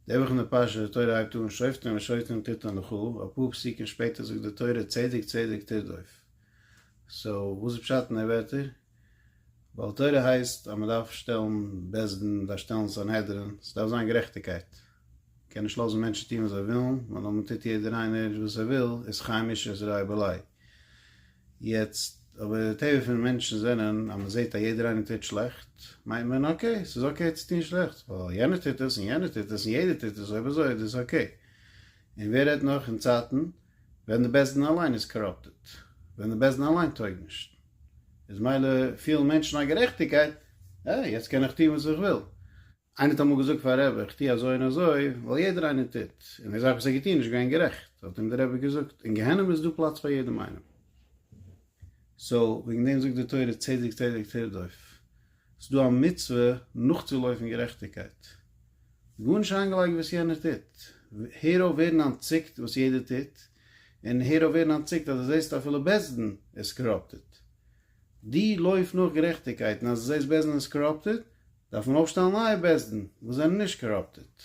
די וואכענדע פרשה די תורה הייבט אן שופטים ושופטים תתן לך, אפאר פסוקים שפעטער זאגט די תורה צדק צדק תרדוף, סאו וואס איז פשט אין די ווערטער? ווייל תורה הייסט אז מען דארף שטעלן בית דין, מען דארף שטעלן סנהדרין, ס'דארף זיין גערעכטיגקייט, מען קען נישט לאזן מענטשן טון וואס זיי ווילן, ווייל אויב מען טוט יעדער איינער וואס ער וויל איז חי מישע איז רעי בעלי'. יעצט אבער די טבע פון מענטשן זענען אז מען זעהט אז יעדער איינער טוט שלעכט מיינט מען אקעי ס'איז אקעי צו טון שלעכטס ווייל יענער טוט עס און יענער טוט עס און יעדער טוט עס אויב אזוי איז דאס אקעי און ווער רעדט נאך אין צייטן ווען די בית דין אליין איז קאראפטעט ווען די בית דין אליין טויג נישט איז מילא פילן מענטשן א גערעכטיגקייט אה יעצט קען איך טון וואס איך וויל. איינער האט אמאל געזאגט פאר רבי איך טו אזוי און אזוי ווייל יעדער איינער טוט, און די זאך וואס ער האט געטון איז נישט געווען גערעכט, האט אים דער רבי געזאגט, אין גיהנום איז דא פלאץ פאר יעדעם איינעם. סאו וועגן דעם זאגט די תורה צדק צדק תרדוף, ס'איז דא א מצוה נאכצולויפן גערעכטיגקייט, גארנישט אריינגעלייגט וואס יענער טוט, הער אויף ווערן אנטציקט וואס יעדער טוט, און הער אויף ווערן אנטציקט אז דו זעסט אפילו בית דין איז קאראפטעד, דו לויף נאך גערעכטיגקייט און אז דו זעסט בית דין איז קאראפטעד, דארף מען אויפשטעלן נייע בית דין וואס זענען נישט קאראפטעט,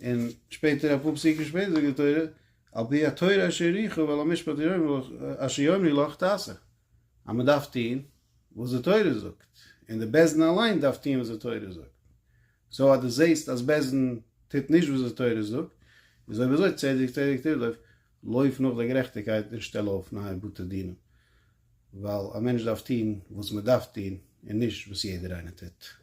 און שפעטער אפאר פסוקים שפעטער זאגט די תורה על פי התורה אשר אריך ועל המשפט אשר יאמרי לך תעשה, אז מען דארף טוהן וואס די תורה זאגט, און די בית דין אליין דארף טוהן וואס די תורה זאגט, סאו אז די זעהסט אז בית דין טוט נישט וואס די תורה זאגט, איז אויב אזוי צדק צדק תרדוף, לויף נאך די גערעכטיגקייט און שטעל אויף נייע בתי דינים, ווייל א מענטש דארף טון וואס מען דארף טון און נישט וואס יעדער איינער טוט.